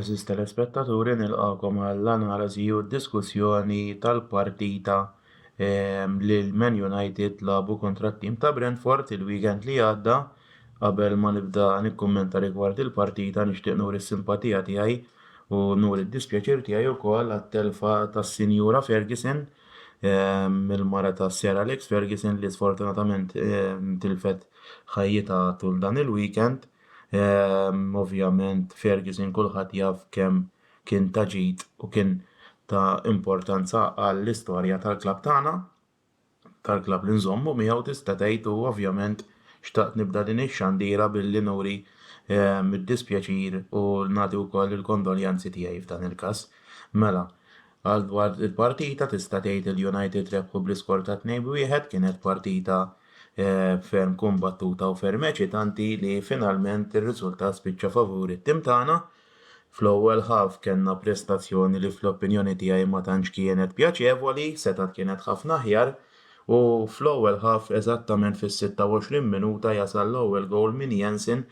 Eżiz telespettaturi nilqakom għall-analiżi u d-diskussjoni tal-partita ehm, li l-Man United labu kontra t-tim ta' Brentford il-weekend li għadda. Qabel ma nibda nikkummenta rigward il-partita nixtieq nuri s-simpatija tiegħi u nuri d-dispjaċir tiegħi wkoll għat-telfa tas-Sinjura Ferguson il-mara ta' Sir Alex Ferguson li sfortunatament tilfet ħajjitha tul dan il-weekend. Ovvjament Ferguson kulħadd jaf kemm kien ta' ġid u kien ta' importanza għall-istorja tal-klabb tagħna, tal-klabb li nżommu miegħu tista' tgħid u ovvjament xtaqt nibda din ix-xandira billi nuri d-dispjaċir u nagħti wkoll il-kondoljanzi tiegħi f'dan il-każ. Mela, Għal dwar il-partita tista' tgħid li l-United rebħu bl-iskor ta' tnejn b'wieħed, kienet partita ferm kumbattuta u ferm eċitanti li finalment ir-riżultat spiċċa favur it-tim tagħna. Fl-ewwel half kellna prestazzjoni li fl-opinjoni tiegħi ma tantx kienet pjaċevoli, setgħet kienet ħafna aħjar u fl-ewwel half eżattament fis-26 minuta jasal l-ewwel gowl minn Jensen,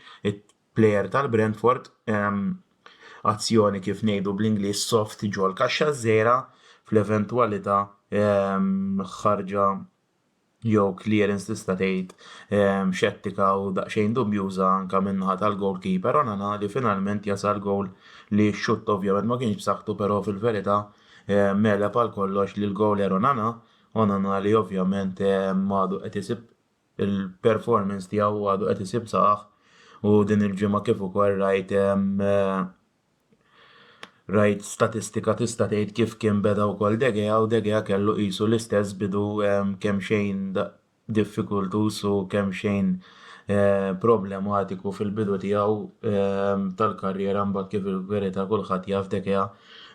plejer tal-Brentford, azzjoni kif ngħidu bl-Ingliż soft ġol-kaxxa ż-żgħira fl-eventwalità ħarġa jew clearance tista' tgħid xettika u daqsxejn dubjuża anke min-naħa tal-goalkeeper Onana li finalment jasal gowl li x-xutt ovvjament ma kienx b'saħħtu però fil-verità megħleb għal kollox lill-gowler Onana, Onana li ovvjament għadu qed isib il-performance tiegħu għadu qed isib saħħ u din il-ġimgħa kif ukoll rajt rajt statistika tista' tgħid kif kien beda wkoll Degea u Degea kellu qisu l-istess bidu kemm xejn diffikultuż u kemm xejn eh, problematiku fil-bidu tiegħu eh, tal-karriera mbagħad kif il-verità kulħadd jaf Degea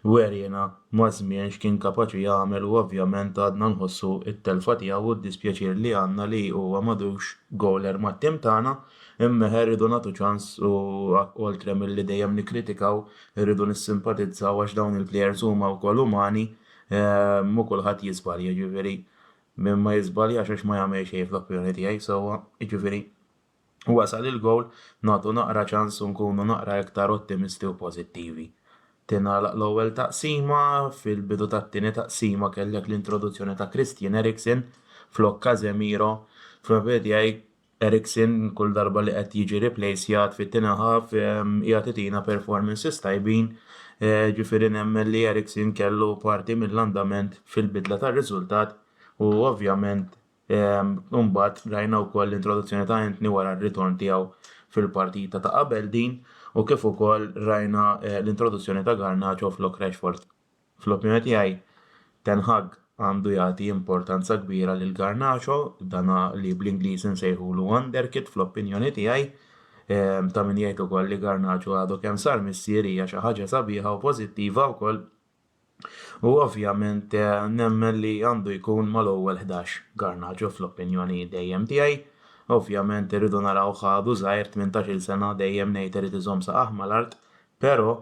Weriena maż-żmien x'kien kapaċi jagħmel u ovvjament għadna nħossu t-telfa tiegħu u d-dispjaċir li għandna li huwa m'għadux gowler mat-tim tagħna, imma eħe rridu nagħtu ċans u oltre milli dejjem nikkritikaw irridu nissimpatizzaw għax dawn il-plejers huma wkoll umani u kulħadd jiżbalja jiġifieri min ma jiżbaljax għax ma jagħmel xejn fl-opinjoni tiegħi sewwa jiġifieri Wasal il-gowl, nagħtu naqra ċans u nkunu naqra iktar ottimisti u pożittivi. Tingħalaq l-ewwel taqsima, fil-bidu tat-tieni taqsima kellek l-introduzzjoni ta' Christian Eriksen flok Casemiro. Fl-opinjoni tiegħi Eriksen kull darba li qed jiġi replejsjat fit-tieni half qiegħed itina performances tajbin, ġifieri nemmen li Eriksen kellu parti mill-andament fil-bidla tar-riżultat u ovvjament u mbagħad rajna wkoll l-introduzzjoni ta' Antony wara r-ritorn tiegħu fil-partita ta' qabel din u kif ukoll rajna eh, l-introduzzjoni ta' Garnacho flok Rashford. Fl-opinjoni tiegħi Ten Hag għandu jagħti importanza kbira lil Garnacho, dana li bl-Ingliż insejħulu wonderkid fl-opinjoni tiegħi eh, ta' min jgħid ukoll li Garnacho għadu kemm sar missier hija xi ħaġa sabiħa u pożittiva wkoll U ovvjament nemmen li għandu jkun mal-ewwel ħdax Garnacho fl-opinjoni dejjem tiegħi. Ovvjament irridu narawh għadu żgħir tmintax-il sena dejjem ngħid irid iżomm saqajh mal-art pero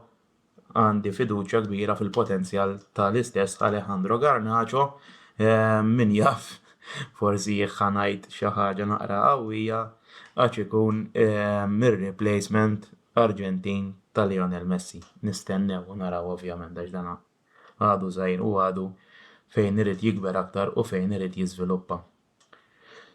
għandi fiduċja kbira fil-potenzjal tal-istess Alejandro Garnacho min jaf forsi jekk ħa ngħid xi ħaġa naqra qawwija għax ikun ir-replacement Arġentin ta' Lionel Messi. Nistennew u naraw ovvjament għax dan għadu żgħir u għadu fejn irid jikber aktar u fejn irid jiżviluppa.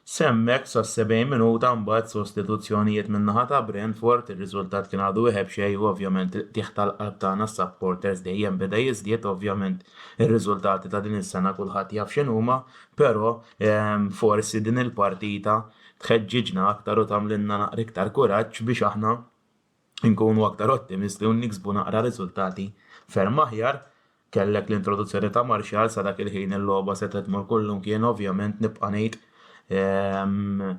S'hemmhekk sas-70 minuta mbagħad sostituzzjonijiet min-naħa ta' Brentford, ir-riżultat kien għadu wieħeb xejn u ovvjament il-qtigħ tal-qalb tagħna s-supporters dejjem beda jiżdied ovvjament ir-riżultati ta' din is-sena kulħadd jaf x'inhuma però forsi din il-partita tħeġġiġna aktar u tagħmlilna naqra iktar kuraġġ biex aħna nkunu aktar ottimisti u niksbu naqra riżultati ferm aħjar. Kellek l-introduzzjoni ta' Marshall sa dak il-ħin il-logħba setgħet tmur kullimkien ovvjament nibqa' ngħid ehm,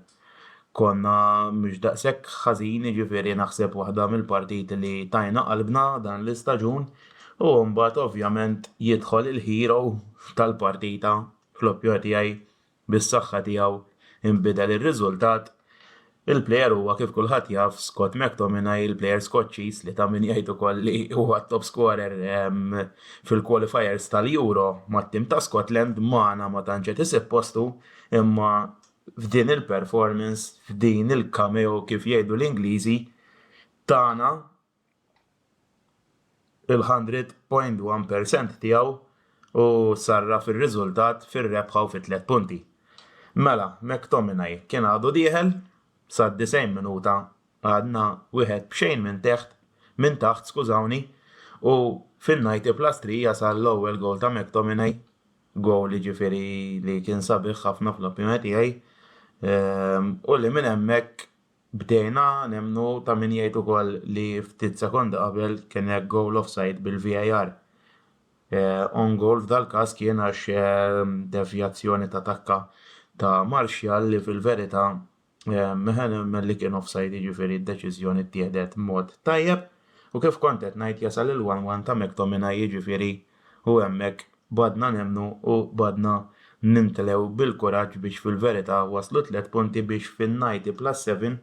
konna mhux daqshekk ħażin, jiġifieri naħseb waħda mill-partiti li tajna qalbna dan l-istaġun u mbagħad ovvjament jidħol il-hero tal-partita fl-oppjor tiegħi bis-saħħa tiegħu nbidel ir-riżultat, il-plejer huwa kif kulħadd jaf Scott McTominay, il-plejer Skoċċiż li ta' min jgħid ukoll li huwa t-top scorer fil-qualifiers tal-Euro mat-tim ta' Scotland, magħna ma tantx qed isib postu imma f'din il-performance, f'din il-cameo kif jgħidu l-Ingliżi, tana il-100.1 per cent tiegħu u sarraf ir-riżultat fir-rebħa u fit-tliet punti. Mela, McTominay kien għadu dieħel, sad-90 minuta għadna wieħed b'xejn minn teħt, minn taħt, skużawni, u fin-90+3 jasal l-ewwel gowl ta' McTominay, gowl jiġifieri li kien sabiħ ħafna fl-opinjoni tiegħi, u li minn hemmhekk Bdejna nemmnu ta' min jgħid ukoll li ftit sekondi qabel kien hekk goal offside bil-VAR. On goal f'dal-każ kien għax devjazzjoni ta' takka ta' Martial li fil-verità meħa nemmen li kien offside jiġifieri d-deċiżjoni ttieħdet mod tajjeb u kif kont qed ngħid jasal il-one-one ta' McTominay jiġifieri u hemmhekk b'għadna nemmnu u b'għadna nimtlew bil-kuraġġ biex fil-verità waslu tliet punti biex fin-ninety plus seven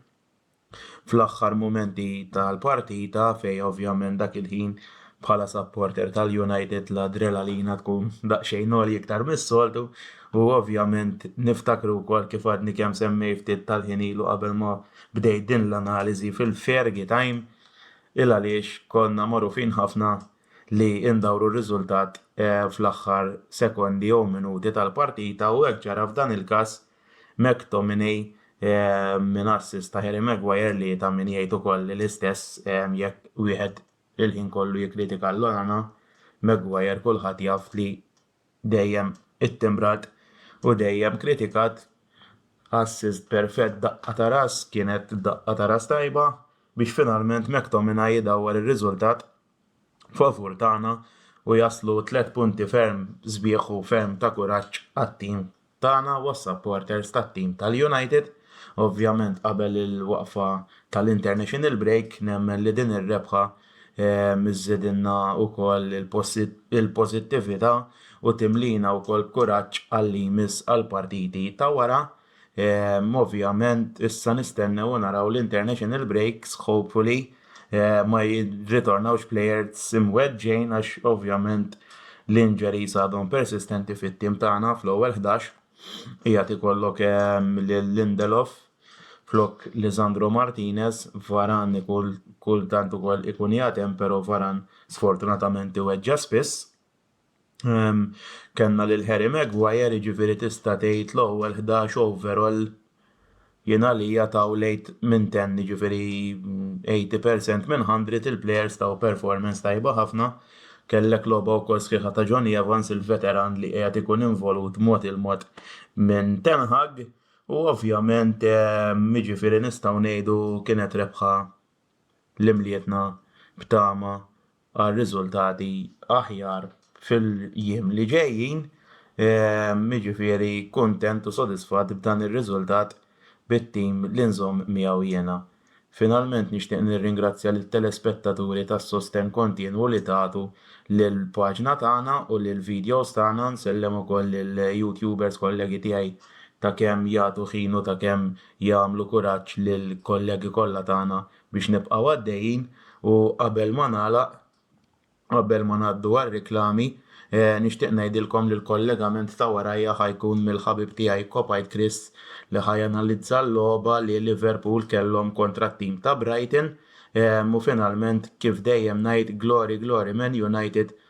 fl-aħħar mumenti tal-partita fejn ovvjament dak il-ħin bħala supporter tal-United l-adrelalina tkun daqsxejn għolja iktar mis-soltu u ovvjament niftakru wkoll kif għadni kemm semmejt ftit tal-ħin ilu qabel ma bdejt din l-analiżi fil-Fergie time il-għaliex konna magħrufin ħafna li ndawru r-riżultat fl-aħħar sekondi jew minuti tal-partita u hekk ġara f'dan il-każ, McTominay minn assist ta' Harry Maguire li ta' min jgħid ukoll l-istess jekk wieħed il-ħin kollu jikkritika lil Onana, Maguire kulħadd jaf li dejjem ittimbrat u dejjem kritikat, assist perfett daqqa ta' ras kienet daqqa ta' ras tajba biex finalment McTominay idawwar ir-riżultat. favur tagħna u jaslu tliet punti ferm sbieħ u ferm ta' kuraġġ għat-tim tagħna u għas-supporters tat-tim tal-United. Ovvjament qabel il-waqfa tal-international break nemmen li din ir-rebħa ehm, żżidilna wkoll il-pożittività u timlina wkoll b'kuraġġ għal-li jmiss għall-partiti ta' wara. Ovvjament issa nistennew u naraw l-international breaks, hopefully ma jirritornawx players imweġġgħin għax ovvjament l-injuries għadhom persistenti fit-tim tagħna fl-ewwel ħdax. Qiegħed ikollok lil Lindelof flok Lisandro Martinez, Varane kultant ukoll ikun jagħti hemm pero Varane sfortunatament iweġġa' spiss. Kellna lil Harry Maguire, jiġifieri tista' tgħid l-ewwel 11 overall jien għalija taw l-8 minn 10, jiġifieri 80% minn 100 il-plejers taw performance tajba ħafna. Kellek logħba wkoll sħiħa ta' Jonny Evans, il-veteran li qiegħed ikun involut mod il-mod minn Ten Hag u ovvjament jiġifieri nistgħu ngħidu kienet rebħa li mlietna b'tama għal riżultati aħjar fil-jiem li ġejjin. Jiġifieri kuntent u sodisfatt b'dan ir-riżultat bit-tim li nżomm miegħu jiena. Finalment nixtieq nirringrazzja lit-telespettaturi tas-sostenn kontinwu li tagħtu lill-paġna tagħna u lill-vidjows tagħna. Nsellem ukoll lill-YouTubers kollegi tiegħi ta' kemm jagħtu ħin u ta' kemm jagħmlu kuraġġ lill-kollegi kollha tagħna biex nibqgħu għaddejjin u qabel ma nagħlaq, qabel ma ngħaddu għar-riklami, nixtieq ngħidilkom li l-kollegament ta' warajja ħa jkun mill-ħabib tiegħi Kopajt Chris li ħa janalizza l-logħba li Liverpool kellhom kontra t-tim ta' Brighton u finalment kif dejjem ngħid Glory Glory Man United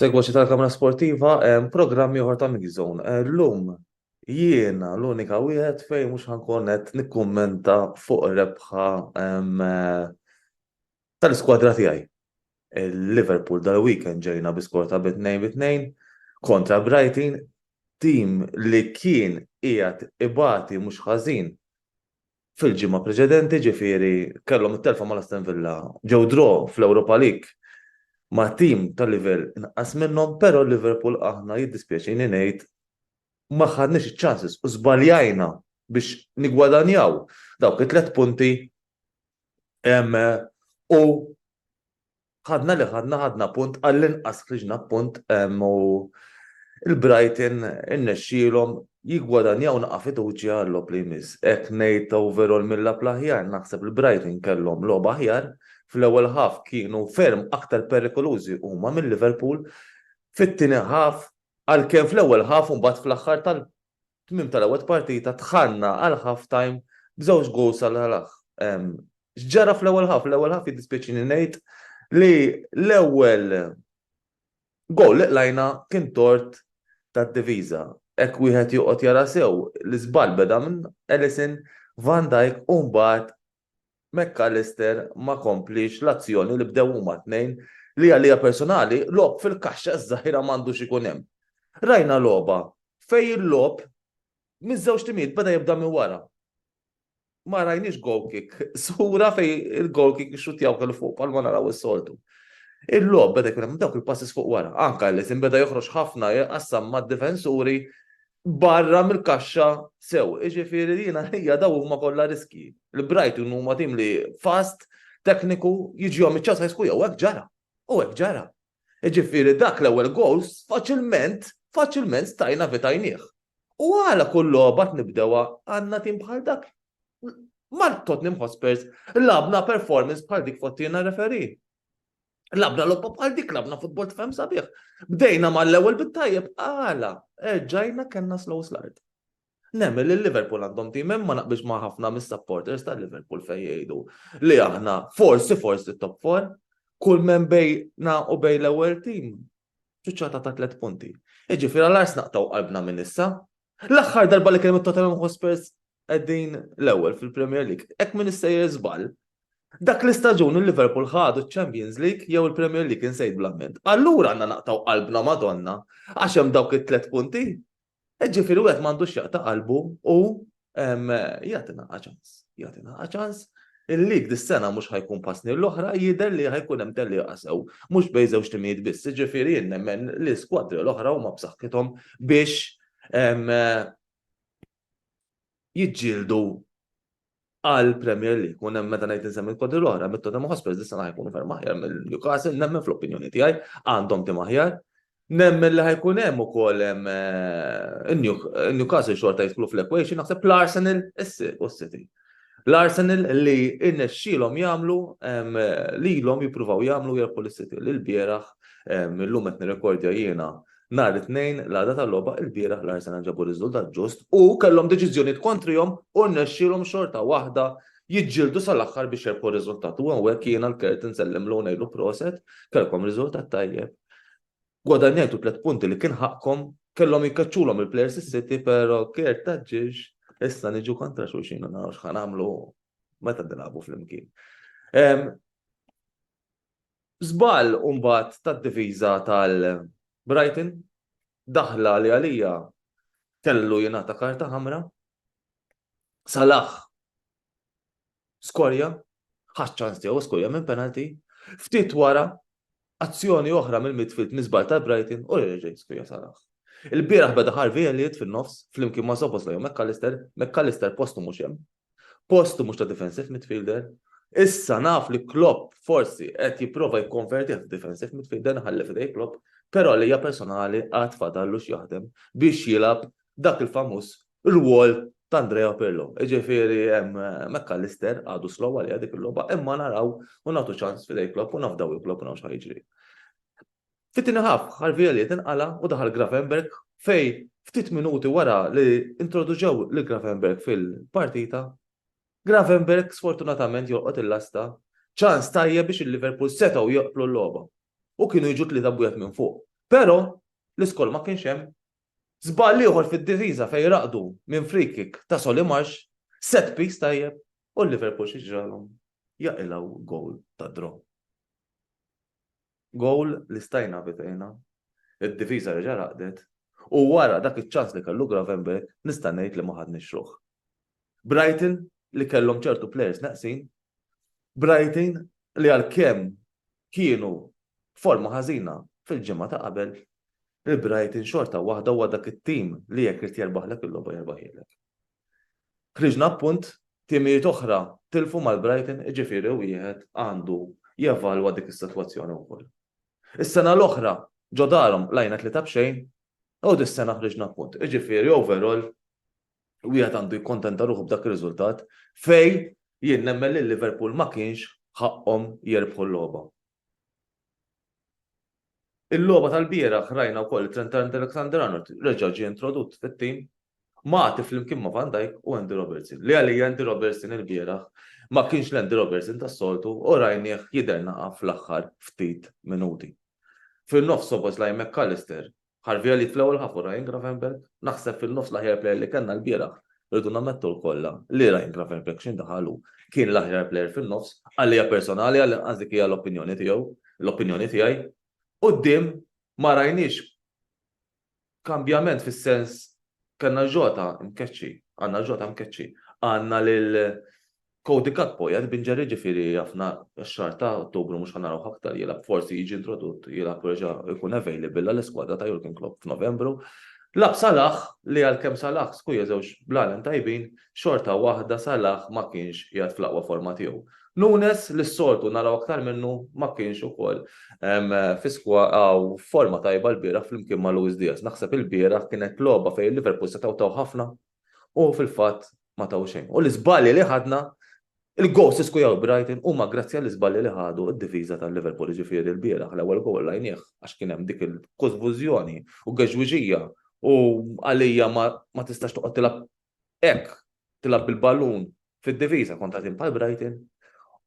Segwaċi tal-Kamra Sportiva, programmi oħra ta' Mix Zone. Eh, L-lum jiena l-unika wieħed fejn mhux ħankun qed nikkummenta fuq rebħa eh, tal-iskwadra tiegħi. Il-Liverpool dal-weekend ġejna bi skor ta' bi tnejn bi tnejn kontra Brighton, tim li kien qiegħed ibati mhux ħażin fil-ġimgħa preċedenti, ġifieri kellhom it-telfa mal-Aston Villa, ġew draw fl-Europa League ma' tim ta' livell inqas minnhom, però l-Liverpool aħna jiddispjaċini ngħid ma ħadniex iċ-chances u żbaljajna biex niggwadanjaw dawk it-tliet punti U ħadna li ħadna ħadna punt għall-inqas ħriġna punt u il-Brighton innexxielhom jiggwadanjaw naqa' fiduċja għall-lob li jmiss. Hekk ngħid overall mill-lab l-aħjar naħseb il-Brighton kellhom logħba aħjar fl-ewwel ħaf kienu ferm aktar perikolużi huma minn Liverpool fit-tieni ħaf għalkemm fl-ewwel ħaf u mbagħad fl-aħħar tal Tmiem tal-ewwel partita dħalna għal half time b'żewġ goals għal Ħal-Aħ. X'ġara fl-ewwel half? L-ewwel half jiddispjaċini ngħid li l-ewwel goal li qlajna kien tort tad-diviża. Hekk wieħed joqgħod jara sew, l-iżball beda minn Ellison, Van Dijk u mbagħad McAllister ma kompliex l-azzjoni li bdew huma t-tnejn li għalija personali logħob fil-kaxxa ż-żgħira m'għandux ikun hemm. Rajna logħba fejn il-logħob miż-żewġ timijiet beda jibda minn wara. Ma rajniex goal kick, sura fejn il-goal kick ixxuttjaw kellu fuq palma naraw is-soltu. Il-logħob beda jkun hemm dawk il-passes fuq wara, anke li beda joħroġ ħafna jqassam mad-difensuri barra mill-kaxxa sew. Iġifieri jiena ħija daw huma kollha riski. Il-Brighton huma tim li fast, tekniku, jiġihom iċ-ċans ħajsku jew hekk ġara. U hekk ġara. Iġifieri dak l-ewwel goals faċilment, faċilment stajna vitajnieh. U għala kull logħba nibdewha għandna tim bħal dak? Mal Tottenham Hotspurs labna performance bħal dik fottina referi. Labna lobba bħal dik, labna futbol tfem sabiħ. Bdejna mal-ewwel bit-tajjeb, għala, erġajna kellna slow slard. Nemmen li Liverpool għandhom tim ma naqbix ma' ħafna mis-supporters ta' Liverpool fejn jgħidu li aħna forsi forsi top 4 kull men bejna u bej l-ewwel tim ċuċċata ta' tliet punti. Iġifieri għal ars naqtaw qalbna minn issa, L-aħħar darba li kien hemm Tottenham Hotspurs qegħdin l-ewwel fil-Premier League. Hekk minn issejjer żball. Dak l-istaġun il-Liverpool ħadu ċ-Champions League jew il-Premier League insejt bl-amment. Allura għandna naqtaw qalbna Madonna għax hemm dawk it-tlet punti. E ġifieri wieħed m'għandux jaqta' qalbu u jagħtina ċans. Jagħtina ċans Il-lig dis-sena mhux ħa jkun bħas-snin l-oħra, jidher li ħa jkun hemm tellieqa sew, mhux bejn żewġ timijiet biss, jiġifieri jien nemmen li l-iskwadri l-oħra huma b'saħħithom biex jiġġieldu għall-Premier League. U nemmen meta ngħid insemmi l-iskwadri l-oħra, mit-Tottenham Hotspurs dis-sena ħa jkunu ferm aħjar minn Newcastle, nemmen fl-opinjoni tiegħi, għandhom tim aħjar, Nemmen li ħajkun hemm ukoll hemm in-Newcastle xorta jidħlu fl-equation naħseb l-Arsenal u s-City. L-Arsenal li irnexxielhom jagħmlu lilhom jippruvaw jagħmlu jerbħu lis-City li lbieraħ illum qed nirrekordja jiena nhar it-Tnejn l-għada tal-logħba lbieraħ l-Arsenal ġabu riżultat ġust u kellhom deċiżjonijiet kontrihom u rnexxielhom xorta waħda jiġġieldu sal-aħħar biex jirbħu riżultat. U hawnhekk jiena l-Kert insellem u ngħidlu proset, kellkom riżultat tajjeb. Gwadanjajtu tliet punti li kien ħaqqkom, kellhom jikkaċċulhom il-players is-City, però Kert taġġiex, issa niġu kontra xulxin u naraw x'ħan nagħmlu meta nilagħbu flimkien. Żball mbagħad tad-diviża tal-Brighton daħla li għalija kellu jingħata karta ħamra Salah skorja, ħax ċans tiegħu skorja minn penalty, ftit wara azzjoni oħra mill-midfield miżbal ta' Brighton u reġa' skorja Salah. Il-bieraħ beda Harvey Elliot fin-nofs flimkien ma' Zobos lejn McAllister, McAllister postu mhux hemm, postu mhux ta' defensive midfielder, Issa naf li Klopp forsi qed jipprova jikkonverti għat defensive midfielder nħalli fidej Klopp, però li hija personali għad fadallu x'jaħdem biex jilgħab dak il-famuż rwol ta' Andrea Pirlo. Ġifieri hemm McAllister għadu slow għalija dik il-logħba, imma naraw u nagħtu ċans fidej Klopp u nafdaw il-Klopp u nafx jiġri. Fit-tieni ħaf, Harvey Elliot inqala u daħal Grafenberg fej ftit minuti wara li introduċew lil Grafenberg fil-partita, Grafenberg sfortunatament jolqot il-lasta ċans tajjeb biex il-Liverpool setgħu joqplu l-logħba u kienu jiġu tlieta bwiet minn fuq. Però l-iskol ma kienx hemm Żball ieħor fid-difiża fejn raqdu minn free kick ta' Solly Marsh, set piece tajjeb u Liverpool xi ġralhom? Jaqilgħu goal ta' draw. Goal li stajna evitejna, id-difiża reġa' raqdet u wara dak iċ-ċans li kellu Gravenberch nista' ngħid li ma ħadniex ruħ. Brighton li kellhom ċertu players neqsin, Brighton li għalkemm kienu forma ħażina fil-ġimgħa ta' qabel il-Brighton xorta waħda huwa dak it-tim li jekk irid jerbaħlek il-logħba jerbaħilek. Ħriġna appunt timijiet oħra tilfu mal-Brighton iġifieri wieħed għandu jevalwa dik is-sitwazzjoni wkoll. Is-sena l-oħra ġo darhom lajna tlieta b'xejn u dis-sena ħriġna appunt. Iġifieri overall wieħed għandu jikkontenta ruħu b'dak ir-riżultat fej jien nemmen li Liverpool ma kienx ħaqqhom jerbħu l-logħba. Il-logħba tal-bieraħ rajna wkoll li Trent Alexander-Arnold reġa' ġie introdott fit-tim ma' għati flimkien ma' Van Dijk u Andy Robertson. Li għalija Andy Robertson il-bieraħ ma kienx l-Andy Robertson tas-soltu u rajnieh jidher naqa' fl-aħħar ftit minuti. Fin-nofs Szoboszlai McAllister Harvey Elliott fl-ewwel ħaf u Ryan Gravenberch, naħseb fin-nofs l-aħjar plejer li kellna lbieraħ, irridu nammettu lkollha li Ryan Gravenberch x'ħin daħal hu kien l-aħjar plejer fin-nofs, għalija personali għall-inqas dik hija l-opinjoni tiegħu, l-opinjoni tiegħi. Quddiem ma rajniex kambjament fis-sens kellna Jota mkeċċi, għandna Jota mkeċċi, għandna lil Cody Gakpo qiegħed b'injury jiġifieri għafna x-xahar ta' Ottubru mhux ħa narawh aktar jilgħab forsi jiġi introdutt jilgħab u jerġa' jkun available għall-iskwadra ta' Jurgen Klopp f'Novembru. Lagħab Salah li għalkemm Salah skuja żewġ blalen tajbin xorta waħda Salah ma kienx qiegħed fl-aqwa forma tiegħu. Nunes li s-soltu naraw aktar minnu ma kienx ukoll fi hawn f'forma tajba l-bieraħ flimkien ma' Luis Diaz. Naħseb il-bieraħ kienet logħba fejn Liverpool setgħu taw ħafna U fil-fatt ma taw xejn. U l-iżbalji li ħadna il-gos isku jaw Brighton huma grazzi għall-iżbalji li ħadu d-difiża tal-Liverpool ġifieri l-bieraħ l-ewwel gowl rajnieh għax kien hemm dik il-kużvużjoni u geġwiġija u għalija ma tistax toqgħod tilgħab hekk tilgħab bil-ballun fid-diviża kontra tim bħal Brighton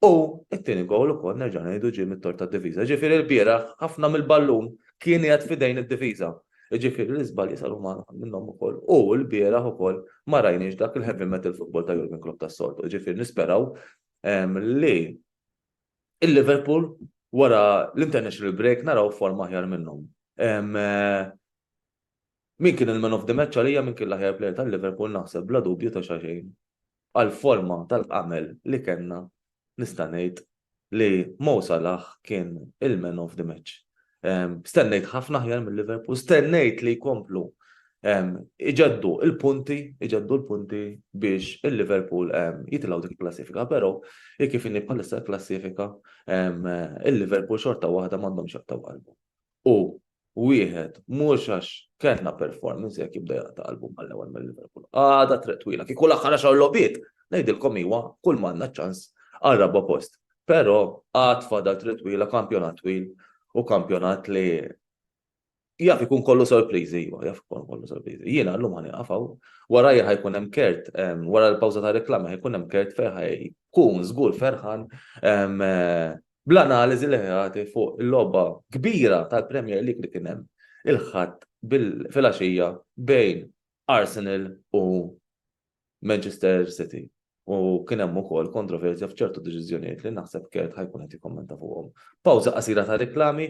u t-tieni gowl ukoll nerġa' ngħidu ġie mit-tort tad-diviża. Ġifieri l-bieraħ ħafna mill-ballun kien qiegħed f'idejn id-diviża. Ġifieri l-iżbalji saru minnhom ukoll u l-bieraħ ukoll ma rajniex dak il-heavy metal football ta' Jurgen Klopp tas-soltu. Ġifieri nisperaw li il-Liverpool wara l-international break naraw forma aħjar minnhom. Min kien il-man of the match għalija min kien l-aħjar player ta' Liverpool naħseb bla dubju ta' xaxejn għal forma tal-qamel li kellna nista' ngħid li Mo Salah kien il-man of the match. Stennejt ħafna aħjar minn Liverpool, stennejt li jkomplu iġeddu il-punti, iġeddu l-punti biex il-Liverpool jitilaw dik il-klassifika, pero kif inni bħalissa l-klassifika il-Liverpool xorta waħda mandom xaqta qalbu. u wieħed mhux għax kellna performance jekk jibda jaqta' qalbu mal-ewwel mill-Liverpool. Għada triq twila, kieku l-aħħar għaxar logħbiet, ngħidilkom iwa, kull manna ċans għal raba' post. Però għad fadal triq twila, kampjonat twil u kampjonat li jaf ikun kollu sorpriżi, iwa, jaf ikun kollu sorpriżi. Jiena llum ħani qafaw, wara jħajkun hemm kert, wara l-pawża ta' reklama jħajkun hemm kert ferħaj, kun żgur ferħan eh, bl-analiżi li ħati fuq il-logħba kbira tal-Premier League li kien hemm il-Ħadd filgħaxija bejn Arsenal u Manchester City. U kien hemm ukoll kontroversja f'ċertu deċiżjonijiet li naħseb Kert ħajkun qed jikkommenta fuqhom. Pawża qasira ta' riklami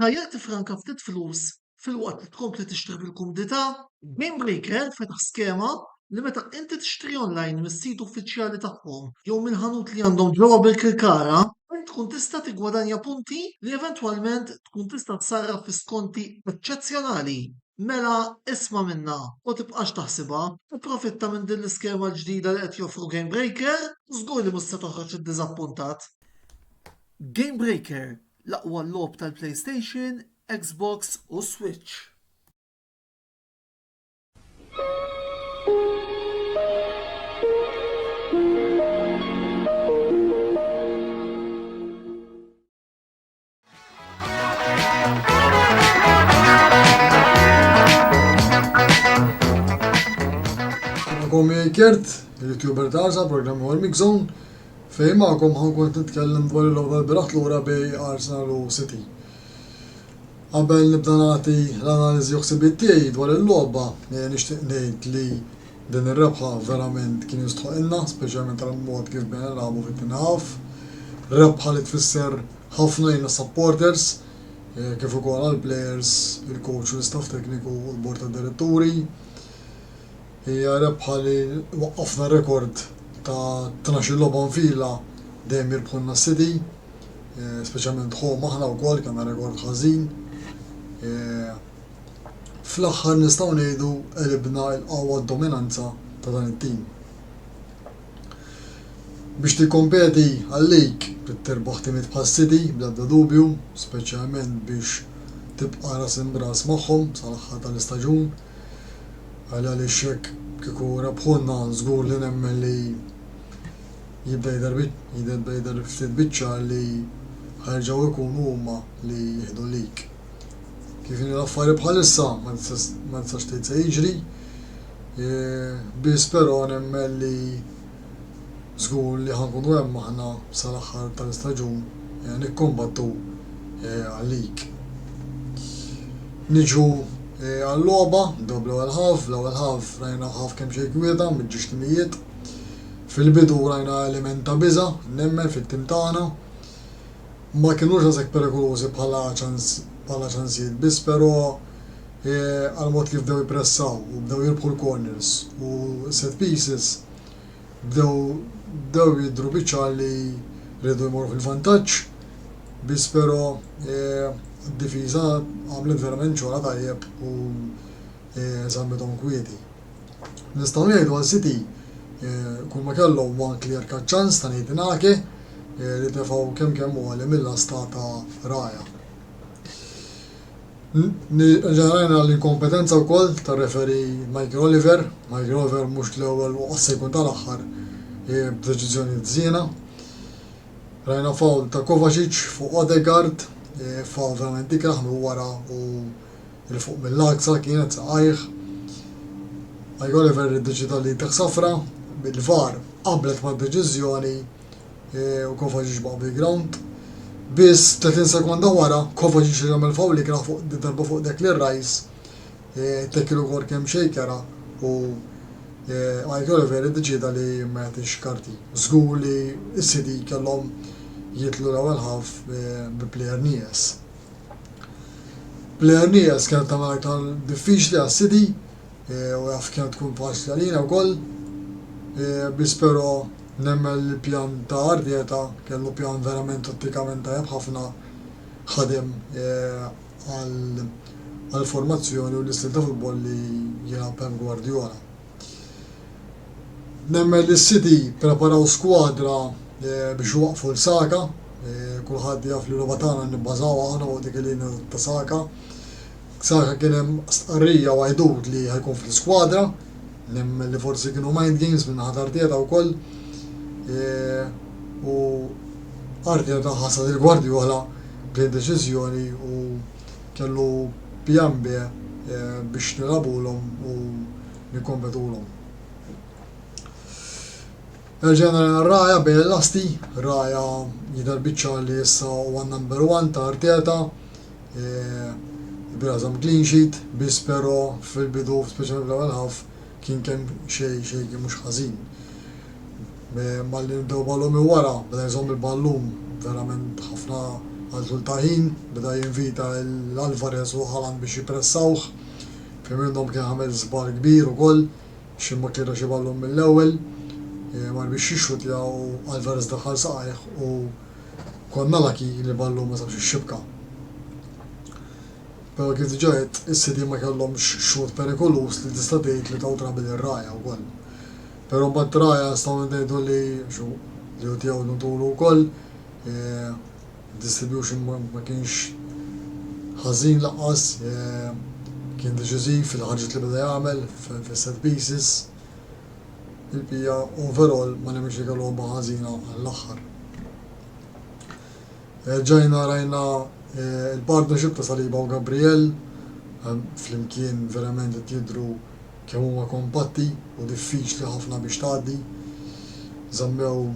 Tajjeb tiffranka ftit flus filwaqt li tkompli tixtri fil-kumdità? GameBreaker fetaħ skema li meta inti tixtri online mis-sit uffiċjali tagħhom jew minn ħanut li għandhom ġewwa Birkirkara, int tkun tista' tiggwadanja punti li eventwalment tkun tista' tsarraf fi skonti eċċezzjonali. Mela isma' minnha u tibqax taħsibha, ipprofitta minn din l-iskema l-ġdida li qed joffru GameBreaker u żgur li mhux se toħroġ iddiżappuntat. GameBreaker, L-aqwa logħob tal-PlayStation, Xbox u Switch. Għomi Kert, il-youtuber ta' għarza, programmi għal Mixon, Fejn magħkom ħa nkun qed nitkellem dwar il-logħba l-bieraħ lura bej Arsenal u City. Qabel nibda nagħti l-analiżi u ħsibiet tiegħi dwar il-logħba, nixtieq ngħid li din ir-rebħa verament kien jistħoqilna, speċjalment għall-mod kif bdejna nilagħbu fit-tieni half. Rebħa li tfisser ħafna lejn is-supporters, kif ukoll għall-plejers, il-kowċ u l-istaff tekniku u l-bord tad-diretturi. Hija rebħa li waqqafna rekord ta' tnax-il logħba nfila dejjem jirbħu lna s-City, speċjalment home aħna wkoll kellna rekord ħażin. Fl-aħħar nistgħu ngħidu għelibna l-qawwa d-dominanza ta' dan it-tim. Biex tikkompeti għal-League trid tirbaħ timiet bħas-City bl-ebda dubju, speċjalment biex tibqa' ras imb'ras magħhom sal-aħħar tal-istaġun. Għal għaliex jekk kieku rebħulna żgur li nemmen li jibda jidher jibda jidher ftit biċ-ċar li ħa jerġgħu jkunu huma li jieħdu l-lig. Kif inhi l-affari bħalissa ma tistax tgħid se jiġri, biss però nemmen li Żgur li ħa nkunu hemm aħna sal-aħħar tal-istaġun nikkombattu għalik. Niġu għal-logħba, nibdew bl-ewwel half, fl-ewwel half rajna half kemm xejn kwieta, mġiex timijiet. Fil-bidu rajna element ta' biża', nemmen, fit-tim tagħna. Ma kinux daqshekk perikolużi bħala ċansijiet biss, però għall-mod kif bdew jippressaw u bdew jirbħu l-corners u s-set pieces, bdew bdew jidhru biċ-ċar li riedu jmorru fil-vantaġġ, biss però d-difiża għamlet verament xogħolha tajjeb u żammithom kwieti. Nistgħu ngħidu għal City kulma kellhom one clear cut chance ta' Nathan Ake li tefgħu kemm kemm għoli mill-lasta ta' Raya. Nirrigħina l-inkompetenza wkoll tar-referee Michael Oliver. Michael Oliver mhux l-ewwel u qass se jkun tal-aħħar b'deċiżjoni żiena. Rajna foul ta' Kovacic fuq Odegaard, foul verament ikrah minn wara u 'l fuq mill-għaksa kienet saqajh. Michael Oliver iddeċieda li jtih safra, il-VAR qablet mad-deċiżjoni. e, u Kovacic baqa' bil-ground. Biss 30 sekonda wara, Kovacic jagħmel fawl li kien fuq darba fuq dek li rajs, e, tekkilu kor kemm xejkera u Għajt e, Oliver iddeċida li ma jagħtix karti. Żgur li s-sidi kellhom jitlu l-ewwel ħaf bi plejer nies. Plejer nies kienet tagħmel aktar diffiċli għas-sidi u jaf kemm tkun tħass għalina wkoll, biss però nemmen li l-pjan ta' Arteta kellu pjan verament tattikament tajjeb ħafna, ħadem għall-formazzjoni u l-istil ta' futbol li jilgħab Pep Guardiola. Nemmen li s-City ppreparaw skwadra biex iwaqqfu 'l Saka, kulħadd jaf li l-logħba tagħna nibbażaw aħna fuq dik il-linja ta' Saka, Saħħa kien hemm stqarrija u għidut li ħa jkun fl-iskwadra, nemmen li forsi kienu mind games minn naħa ta' Arteta wkoll. U Arteta ħassa lil Guardiola b'din deċiżjoni u kellu pjan B biex nilagħbulhom u nikkompetulhom. Erġajna lejn Raja bejn il-lasti, Raja jidher biċċar li issa huwa number one ta' Arteta, Il-bira żamm clean sheet, biss però fil-bidu, speċjalment fl-ewwel half, kien kemm xejn xejn kien mhux ħażin. Malli nibdew ballun minn wara, beda jżomm il-ballun verament ħafna għal tul ta' ħin, beda jinvita lil Alvarez u Haaland biex jippressawh. Fejn minnhom kien għamel żball kbir ukoll, xi ma kien ra xi ballun mill-ewwel, mar biex jixxutja u Alvarez daħal saqajh u Kont nalaki li Ballu ma sabx ix-xibka. Però kif diġà għedt, is-sidien ma kellhomx xhud perikoluż li tista' tgħid li taw trabi lir-ragħajja wkoll. Però mbagħad ir-ragħajja nistgħu ngħidu li xu, li hu tiegħu Nuntulu wkoll, id-distribution ma kienx ħażin lanqas, kien deċiżiv fil-ħarġiet li beda jagħmel fis-set pieces. il-bqija overall ma nemminx li kellha logħba ħażina għall-aħħar. Erġajna rajna l-partnership ta' Saliba u Gabriel flimkien verament qed jidhru kemm huma kompatti u diffiċli ħafna biex tgħaddi. Żammew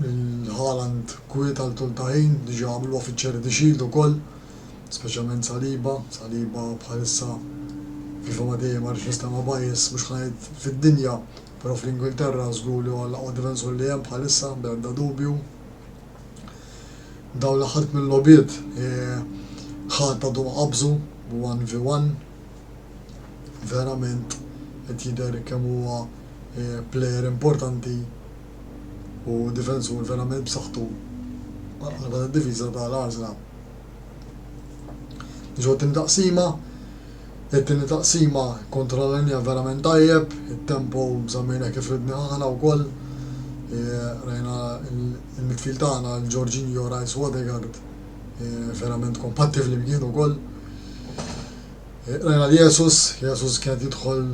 lil Haaland kwiet għal tul ta' ħin, diġà għamluha fiċ-Charity Shield ukoll. Speċjalment Saliba, Saliba bħalissa kif huwa dejjem għaliex nistema' bias, mhux ħa ngħid fid-dinja, però fl-Ingilterra żgur li huwa l-aqwa difensur li hemm bħalissa bla ebda dubju. Dawn l-aħħar tmien logħbiet ħadd għadu ma qabżu one v one. Verament qed jidher kemm huwa plejer importanti u difensur verament b'saħħtu għall-qalba tad-difiża tal-Arsenal. Biex ngħaddi din taqsima, it-tieni taqsima kontra l-linja verament tajjeb, it-tempo żammejna kif ridni aħna wkoll. Rajna il-midfield tagħna l-Jorginho Rice Odegaard verament kompatti flimkien ukoll. Rajna li Jesus, Jesus kien jidħol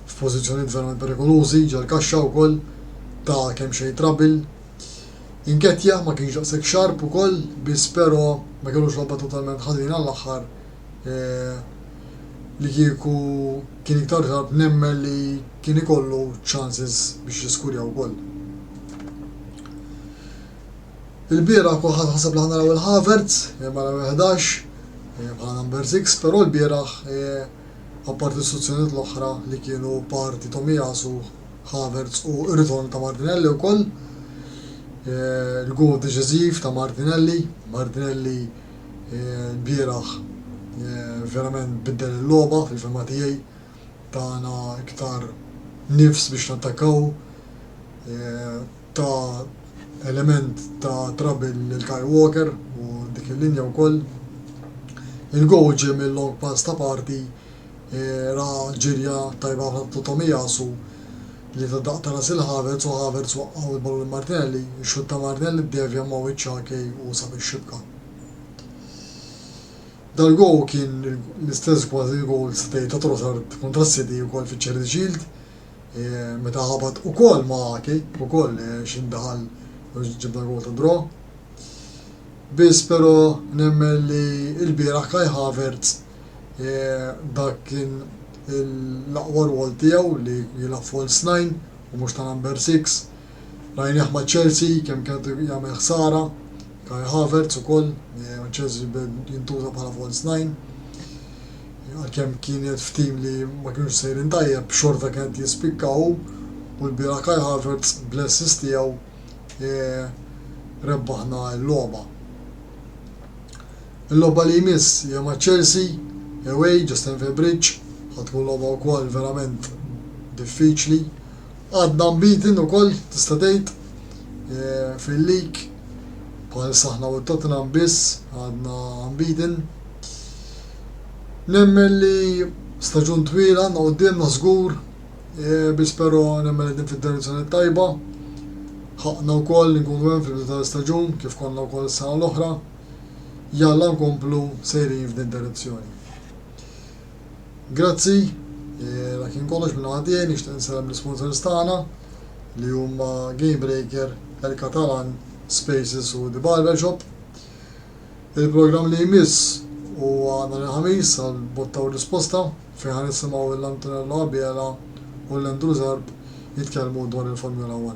f'pożizzjonijiet verament perikolużi ġal-kaxxa wkoll ta' kemm xejn trabil Nketiah ma kienx daqshekk sharp ukoll biss pero ma kellux logħba totalment ħażina għall-aħħar li kieku kien iktar sharp nemmen li kien ikollu chances biex jiskurja wkoll. Ilbieraħ kulħadd ħaseb li ħa naraw lil Havertz mara numru 11 bħala number 6 pero lbieraħ apparti s-suzzjonijiet l-oħra li kienu parti Tomiyasu Havertz u r-ritorn ta' Martinelli wkoll. Il-goal deċiżiv ta' Martinelli, Martinelli l-bieraħ verament biddel il-logħba fil-fehma tiegħi, tana iktar nifs biex nattakkaw, ta element ta' trouble lil Kyle Walker u dik il-linja wkoll. Il-goal ġie minn long pass ta' Partey Ra ġirja tajba ħafna ta' Tomiyasu li ta daqq ta' ras 'il Havertz u Havertz waqqgħu l-ballun lil Martinelli, ix-xutt ta' Martinelli ddevja ma' wiċċ Ake u sab ix-xibka. Dal-gowl kien l-istess kważi gowl tista' tgħid ta' Trossard kontra s-City ukoll fiċ-Charity Shield meta ħabat ukoll ma' Ake ukoll xi ndaħal u ġibna gowl ta' draw. Biss però nemmen li ilbieraħ Kai Havertz Dak kien l-aqwa rwol tiegħu li jilgħab false nine u mhux ta' number six. Rajnieh ma' Chelsea kemm kien qed jagħmel ħsara. Kai Havertz ukoll ma' Chelsea beda jintuża bħala false nine. Għalkemm kien qiegħed f'tim li ma kinux sejrin tajjeb, xorta kien qed jispikka hu u lbieraħ Kai Havertz bl-assist tiegħu rebbaħna l-logħba. Il-logħba li jmiss hija ma' Chelsea away ġo Stamford Bridge, ħa tkun logħba wkoll verament diffiċli. Għadna unbeaten ukoll tista' tgħid fil-league, bħalissa aħna u Tottenham biss għadna unbeaten. Nemmen li staġun twil għandna quddiemna żgur, biss però nemmen qegħdin fid-direzzjoni t-tajba. Ħaqqna wkoll li nkunu hemm fil-bidu tal-istaġun kif konna wkoll is-sena l-oħra. jalla nkomplu sejrin f'din id-direzzjoni. Grazzi, la kien kollox minn naħa tiegħi nixtieq nsellem l-isponsors tagħna li huma Gamebreaker, El Catalan, Spaces u The Barbershop. Il-programm li jmiss huwa nhar il-Ħamis għal botta u risposta fejn ħa nisimgħu l-Antonello Abela u l-Andrew Zarb jitkellmu dwar il-Formula 1.